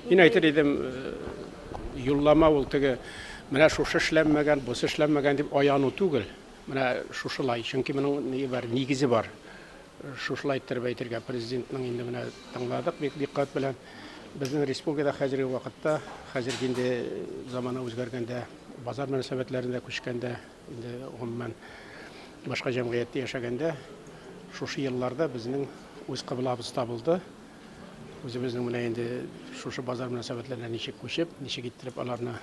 Мин әйтер идем, э, юллама ул теге менә шушы эшләнмәгән, бусы эшләнмәгән дип аяну түгел. Менә шушылай, чөнки моның ни бар, нигезе бар. Шушылай иттереп әйтергә президентның инде менә тыңладык бик диккат белән. Безнең республикада хәзерге вакытта, хәзерге инде замана үзгәргәндә, базар мөнәсәбәтләрендә күчкәндә Инде гомумән башка җәмгыятьтә яшәгәндә шушы елларда безнең үз кыблабыз табылды. Үзебезнең менә инде шушы базар мөнәсәбәтләренә ничек күчеп, ничек иттереп аларны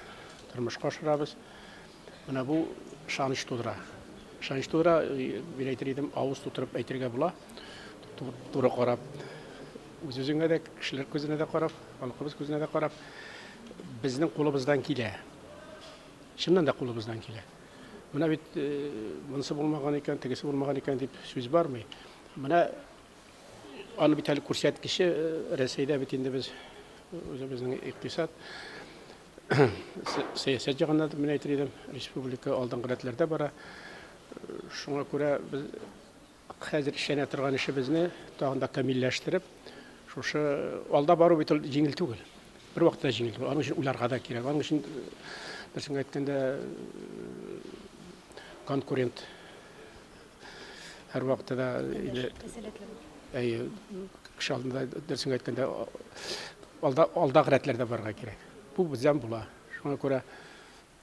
тормышка ашырабыз. Менә бу ышаныч тудыра. Ышаныч тудыра, мин әйтер идем, авыз тутырып әйтергә була. Туры карап, үз-үзеңә дә, кешеләр күзенә дә карап, халкыбыз күзенә дә карап, безнең кулыбыздан килә. Чыннан да кулыбыздан килә. Менә бит монысы булмаган икән, тегесе булмаган икән дип сүз бармый. Менә аны бит әле күрсәткече Рәсәйдә бит инде без үзебезнең икътисад сәясәт җагында мен әйтер идем, республика алдынгы рәтләрдә бара. Шуңа күрә без Хәзер эшләнә торган эшебезне тагын да камилләштереп, шушы алда бару бит ул җиңел түгел. Бервакытта җиңел түгел. Аның өчен уйларга да кирәк. Аның өчен берсен әйткәндә конкурент һәрвакытта да инде әйе кеше алдында дөресен әйткәндә алда алдагы рәтләрдә барырга кирәк бу бездән була шуңа күрә